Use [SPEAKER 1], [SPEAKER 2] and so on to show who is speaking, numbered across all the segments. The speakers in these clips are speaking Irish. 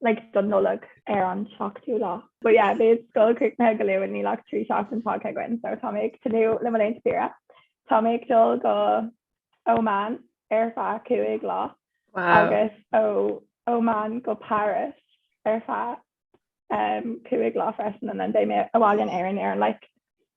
[SPEAKER 1] like don Nollaig ar an seachtú lá déag. But yeah beidh scoil críochnaithe go luath níl ach trí seachtain fágtha againn so tá mé ag tnúth le mo laethanta saoire. Tá mé ag dul go Oman ar feadh cúig lá agus ó Oman go Paris ar feadh um, cúig lá freisin and then beidh mé abhaile in Éirinn ar an like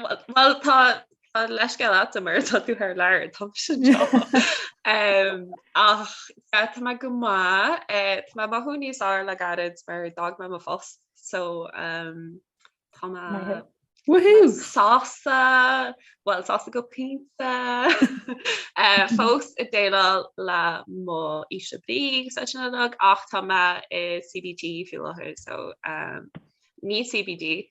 [SPEAKER 1] Bhuel
[SPEAKER 2] tá leisceil ata mar tá tú ar leir tá sin ach tá me go má eh, Tá me mothú níos á le gaiad mar dag me mo fós so tá
[SPEAKER 3] sása
[SPEAKER 2] bhil sása go pínta eh, fós i déal le mó ise brí sa sin ach tá me i CBT fiú so ní CBD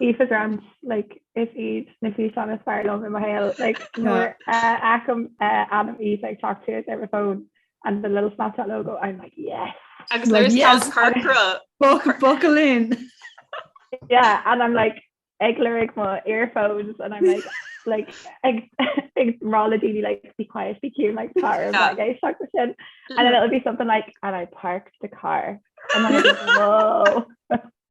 [SPEAKER 1] Aoife Grant like is iad na físeáin is fearr liom i mo shaol like nuair a fheacaim ainm Aoife ag teacht siar ar mo phone and the little Snapchat logo I'm like yes agus nuair is tá
[SPEAKER 2] corcra
[SPEAKER 3] buckle in yeah
[SPEAKER 1] and I'm like ag lorg mo earphones and I'm like like ag ag rá le daoine like be quiet be cute like car like I stuck with sin and then it'll be something like and I parked the car and I'm like whoa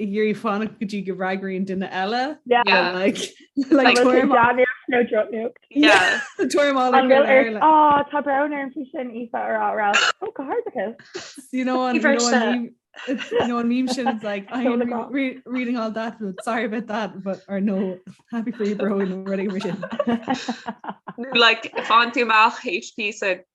[SPEAKER 3] ag iarraidh fanacht go dtí go bhfreagraíonn duine
[SPEAKER 1] eile Tá brón orm faoi sin Aoife ara oh, god. You know
[SPEAKER 3] an nó an meme sin like I ain't reading all that but sorry about that but or no happy for you bro rudaí sin like
[SPEAKER 2] fan tú amach HP sa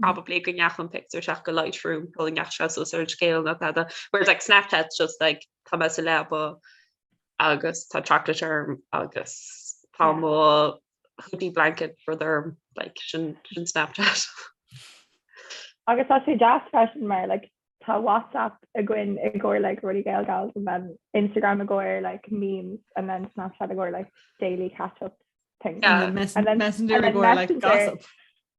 [SPEAKER 2] probably go neach an picture seach go Lightroom go neach se so ar scéil na tada where like snapchat just like come as a lebo agus tá chocolate term agus tá mo hoodie blanket for their like sin sin snapchat
[SPEAKER 1] agus tá sé jazz fashion mar like tá whatsapp a gin i gcóir like ruí gail gal and then Instagram a gcóir like memes and then snapchat a gcóir like daily catch up thing yeah, and then messenger
[SPEAKER 3] and then messenger, like gossip.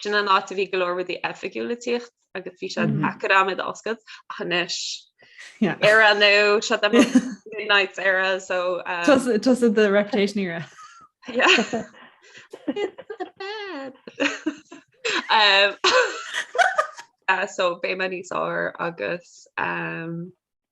[SPEAKER 2] sin an áit a bhí go leor rudaí oifigiúla ag tíocht agus bhí sé deacair dom iad a oscailt ach anois ar an nó sa Midnights era so um, Just the
[SPEAKER 3] Reputation era
[SPEAKER 2] um, uh, so beidh mé níos fearr agus um,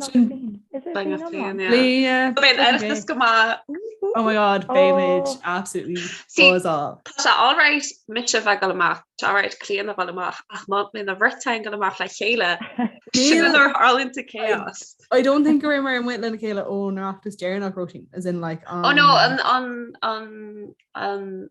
[SPEAKER 1] Sin daingean féin, yeah. Léigh, Beidh an tOireachtas
[SPEAKER 3] go maith. Oh my god, beidh muid Oh. absolutely See, buzz off. Tá sé alright
[SPEAKER 2] mise bheith ag goil amach, tá alright Cliodhna a bheith ag goil amach, ach má beidh an bheirt againn ag goil amach le chéile, sin Níl- an uair tharlaíonn total chaos. I don't think go raibh
[SPEAKER 3] muid amuigh lena chéile ón Oireachtas deireanach, Róisín, as in like an... Oh no, an, an, an, an,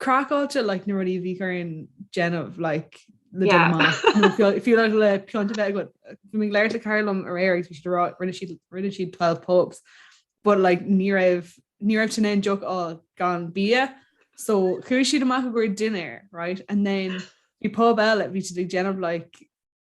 [SPEAKER 3] craiceáilte like na rudaí a bhí orainn déanamh like le Yeah. déanamh maith. Nó fiú- fiú le- le pionta bheith agat. Bhí mé ag labhairt le Colm aréir agus bhí siad ag rá rinne siad rinne siad 12 pubs but like ní raibh ní raibh siad in ann deoch a fháil gan bia so chuaigh siad amach i gcomhair dinner right and then bhí pub eile bhí siad ag déanamh like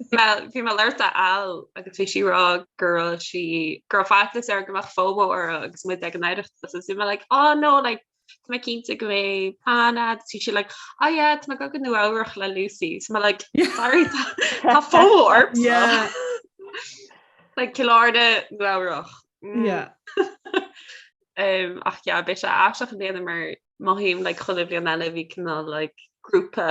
[SPEAKER 2] Bhí mé ag labhairt le Al agus bhí sí ag rá go raibh sí go raibh faitíos uirthi go mbeadh FOMO uirthi agus muid ag an Oireachtas agus bhí mé like oh no like tá mé cinnte go mbeidh plean agat agus bhí sí like oh yeah tá mé ag goil go Nua-Eabhrac le Lucy so mé like sorry tá tá FOMO ort like Cill Airne Nua-Eabhrac ach yeah beidh sé aisteach i mbliana mar mothaím like chuile bhliain eile bhí cineál like grúpa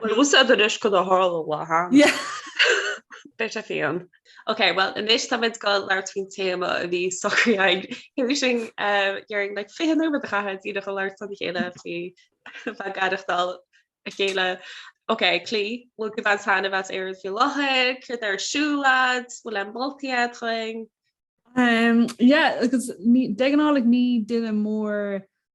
[SPEAKER 2] Bhuel bhfuil sé den uisce ná tharla lá thearna. Beidh sé fiáin. Ok, bhuel anois tá muid ag gabháil ag labhairt faoin téama a bhí socraithe againn, tar éis dhúinn like 20 nóiméad a chaitheamh ag daoine chun labhairt lena chéile faoi bheith ag aireachtáil a chéile. Ok, Clí, bhfuil gníomh ann teann a bheith as Éirinn faoi láthair? Céard atá ar siúl leat? Bhfuil aon mholtaí a'd dhúinn?
[SPEAKER 3] Yeah, agus
[SPEAKER 2] de
[SPEAKER 3] ghnáth like ní duine mór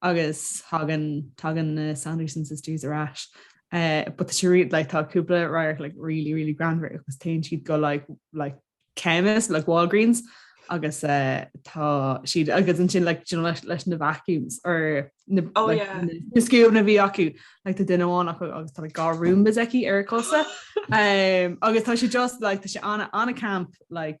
[SPEAKER 3] agus thagann, tagann na Sanderson Sisters ar ais eh, but she really, like, tá cúpla radharc, like, really, really greannmhar, agus téann siad go, like, like, chemist, like, Walgreens, agus eh, tá siad, agus ansin, like, you know, leis, leis na vacuums, or na, Oh, like, yeah. na, na scuabanna a bhí acu, like, tá duine amháin acu, agus tá like, dhá Roombas aici ar a cosa, um, agus tá sé just, like, tá sé ana, ana-camp, like,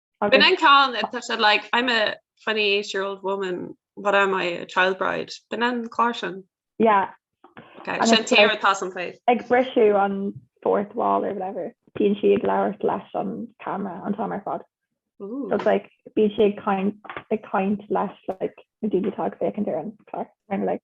[SPEAKER 1] I've been in con
[SPEAKER 2] and such that like I'm a 28 year old woman what am I a child bride been in caution yeah
[SPEAKER 1] okay And sin
[SPEAKER 2] it's tear like- atá an play ag brisú an
[SPEAKER 1] fourth wall or whatever bíonn si ag labhairt leis an camera an tá mar fad so ooh it's like bíonn si ag caint ag caint leis like na daoine atá ag féachaint ar an clár and like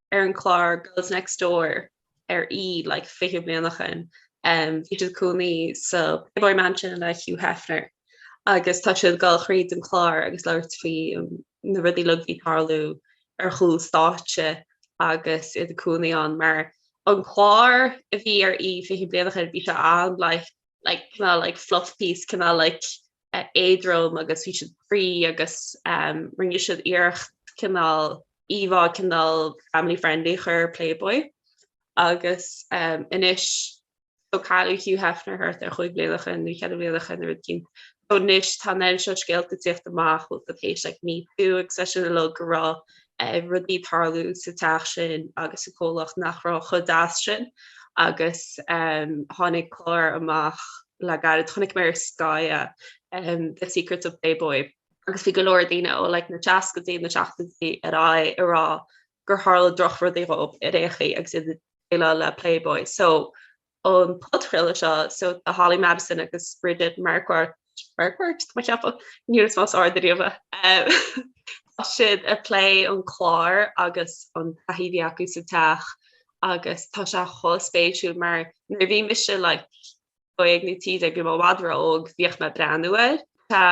[SPEAKER 2] ar an chlár Girls Next Door ar E! like 20 bliain ó shoin. Em bhí siad ag cónaí sa Playboy Mansion le Hugh Hefner agus tá siad ag gabháil thríd an chlár agus ag labhairt faoi na rudaí uilig a bhí ag tarlú ar chúl stáitse agus iad ag cónaí ann mar an clár a bhí ar E! 20 bliain ó shoin bhí sé an like like cineál like fluff piece cineál like éadrom agus bhí siad ag spraoi agus rinne siad iarracht cineál íomhá cineál family friendly a chur ar Playboy agus anois so cailleadh Hugh Hefner thart ar chúig bliana ó shoin nó cheithre bliana ó shoin nó rud eicínt. So anois tá an méid seo scéalta ag teacht amach bhfuil a fhios a'd tar éis like Me Too agus tá a fhios againn uilig go raibh rudaí ag tarlú sa teach sin agus sa comhlacht nach raibh chomh deas sin agus tháinig clár amach le gairid chonaic mé ar Sky The Secrets of Playboy agus bhí go leor daoine ó like na seascaidí, na seachtaidí ar aghaidh ag rá gur tharla drochrudaí dhóibh i Réchaí agus iad ag déileáil le Playboy. So an podchraoladh seo so tá Holly Madison agus Bridget Marquardt, Marquardt? Tá mé ag ceapadh, níor chlois mé os ard ariamh é. Tá siad ag plé an clár agus an taithí a bhí acu sa teach agus tá sé chomh spéisiúil mar nuair a bhí mise like dó dhéag nó trí déag bhí mé i bhfad ró-óg bhíodh mé ag breathnú air. Tá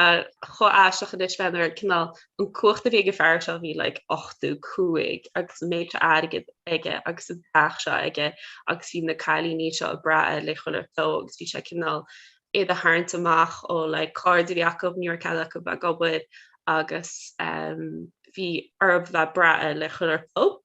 [SPEAKER 2] chomh aisteach anois ag breathnú ar cineál an cumhacht a bhí ag an fear seo bhí like 85 agus an méid seo airgid aige agus an teach seo aige agus bhí na cailíní seo ag brath air le chuile shórt agus bhí sé cineál iad a tharraingt amach ó like cairde a bhí acu ní raibh cead acu bheith ag obair agus ehm bhí orthu bheith ag brath air le chuile shórt.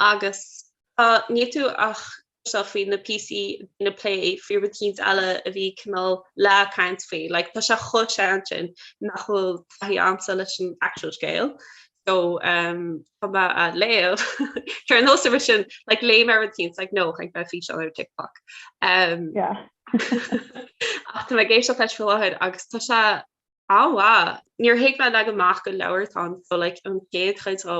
[SPEAKER 2] agus. Tá Níotú á chloisteáil faoi na píosaí daoine plé faoi rud éicínt eile a bhí cineál le caint faoi. Like tá sé chomh sean sin nach bhfuil taithí agamsa leis an actual scéal. So um, tá mé a léamh Tar an nósa sin like, léamh ar rud éicínt like, nó ag bheith fi an ar TikTok. Um,
[SPEAKER 1] yeah.
[SPEAKER 2] Ach tá mé ag éisteacht leis fáid agus tá se Á, wow. Níor thuig mé leagan amach an leabhair, tá an so like an chéad chuid dó,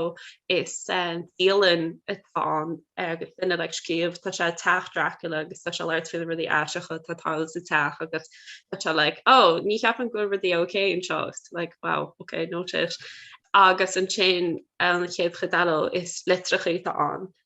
[SPEAKER 2] is dialann atá ann agus duine ag scríobh, tá sé teach Dracula agus tá sé ag labhairt faoi rudaí aisteacha atá ag tarlú sa teach agus tá sé like ó ní cheapann go bhfuil rudaí okay anseo is like wow, ok noted. Agus ansin an chéad chuid eile is litreacha atá ann.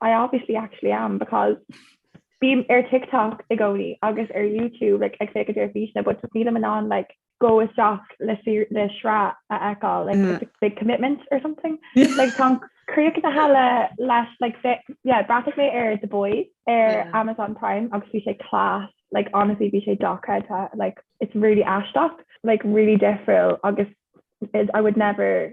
[SPEAKER 1] I obviously actually am because bím ar TikTok i gcónaí agus ar YouTube like, ag féachaint ar físeáin, but nílim in an like, go isteach le sraith a fheiceáil like, mm. it's a big commitment or something. like, tá mé críochnaithe leis like, yeah, bhreathnaigh mé ar The Boys ar yeah. Amazon Prime agus bhí sé class like honestly bhí sé docha like it's really aisteach like really difriúil agus I would never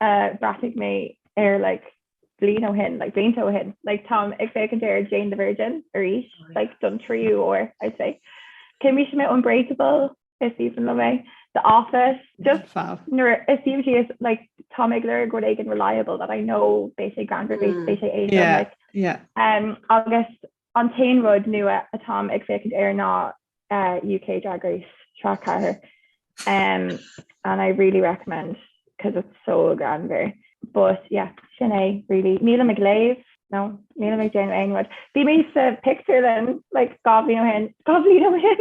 [SPEAKER 1] uh, breathnigh mé ar like, blian ó hen like, blianta ó hen like, Tom ag fé an déir Jane the Virgin ar ís oh, like, don tríú ó I'd say. Ke mí mé unbreakable is even le mé the office just it seems she is like Tom Igler good and reliable that I know basic grand mm. basic yeah like, yeah um August An t-aon rud nua atáim ag féachaint air ná UK Drag Race sraith 4 and I really recommend cos it's so greannmhar but yeah sin é really. Nílim ag léamh nó nílim ag déanamh aon rud. Bhí mé sa pictiúrlann like dhá bhliain ó shin, dhá bhliain ó shin!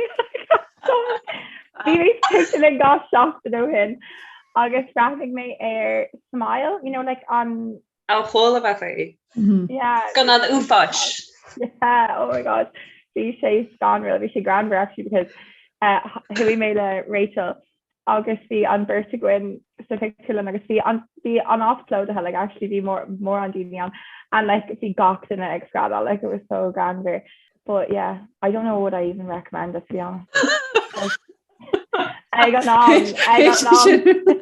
[SPEAKER 1] Bhí mé sa pictiúrlann dhá seachtain ó shin agus bhreathnaigh mé ar Smile, you know like an An
[SPEAKER 2] t-horror movie. Yeah.
[SPEAKER 1] Scannán
[SPEAKER 2] uafáis. Yeah,
[SPEAKER 1] oh my god. Bhí sé scanrúil, bhí sé greannmhar actually because uh, chuaigh mé le Rachel agus bhí an beirt againn sa pictiúrlann agus bhí an, bhí an áit plódaithe, like actually bhí mór, mórán daoine ann and like bhí gach duine ag screadal, like it was so greannmhar. But yeah, I don't know would I even recommend it to be honest. Ag an am, ag an am.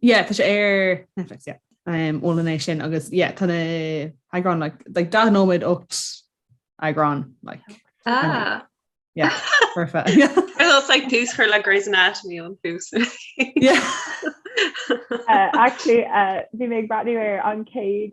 [SPEAKER 1] Yeah, tá
[SPEAKER 3] sé ar Netflix, yeah. Um, is aoibhinn liom é sin agus, yeah, tá na heagráin, like, like, daichead nóiméad 8 eagrán, like. Ah. Yeah, perfect. It's like
[SPEAKER 2] tús chuir le Grey's Anatomy an tús. Yeah.
[SPEAKER 1] uh, actually, uh, bhí mé ag breathnú ar an céad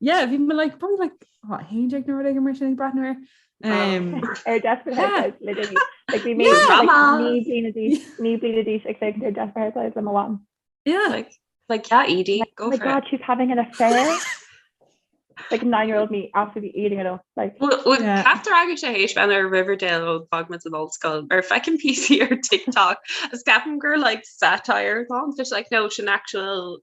[SPEAKER 3] yeah bhí me like probably like hot hand jack nor ag mar sin bratnar
[SPEAKER 1] ar ní bli a dís ag ar death le am yeah like like
[SPEAKER 2] yeah Edie go oh my god she's having an
[SPEAKER 1] affair like nine year old me after the eating it all like yeah. after I get
[SPEAKER 2] age and our Riverdale old fragments of old skull or if I can PC or TikTok a scapin girl like satire long just like no an actual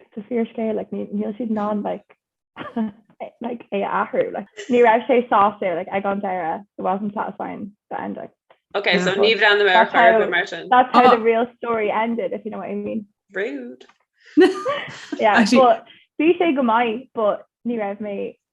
[SPEAKER 1] it's a fíorscéal like níl siad in ann like like é a athrú like ní raibh sé sásta like ag an deireadh it wasn't satisfying the ending ok so ní
[SPEAKER 2] bhreathnóidh mé air mar sin that's how the
[SPEAKER 1] real story ended if you know what I mean rude yeah but bhí sé go maith but ní raibh mé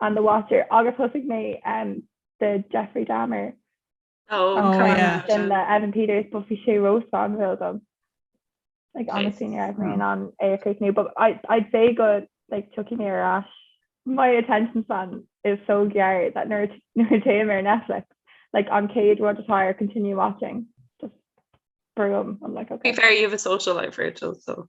[SPEAKER 1] ar the Watcher agus thosaigh mé the Jeffrey Dahmer le Evan Peters but bhí sé ró scanrúil dom like honestly ní raibh mé in ann é a chríochnú but I'd say go like tiocfaidh mé ar ais my attention span is so gearr that nuair a téim ar Netflix like an chéad rud atá ar continue watching just brúim I'm like okay. To be fair you have a social
[SPEAKER 2] life Rachel so.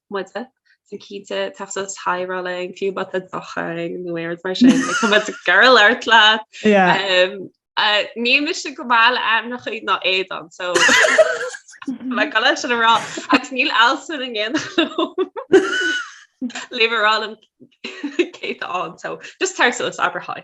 [SPEAKER 2] muide, so cinnte, teastas Thai rá lei, fiú má tá dochang nó aird mar sin, like, tá muid ag goil a labhairt leat. Yeah. Um, uh, Níl mise go maith le ainmneachaí ná éadán, so gabh mo leithscéal sin a rá, agus níl alsa na ngéanann Leave it all in Kate on, so just tar suas abrathai.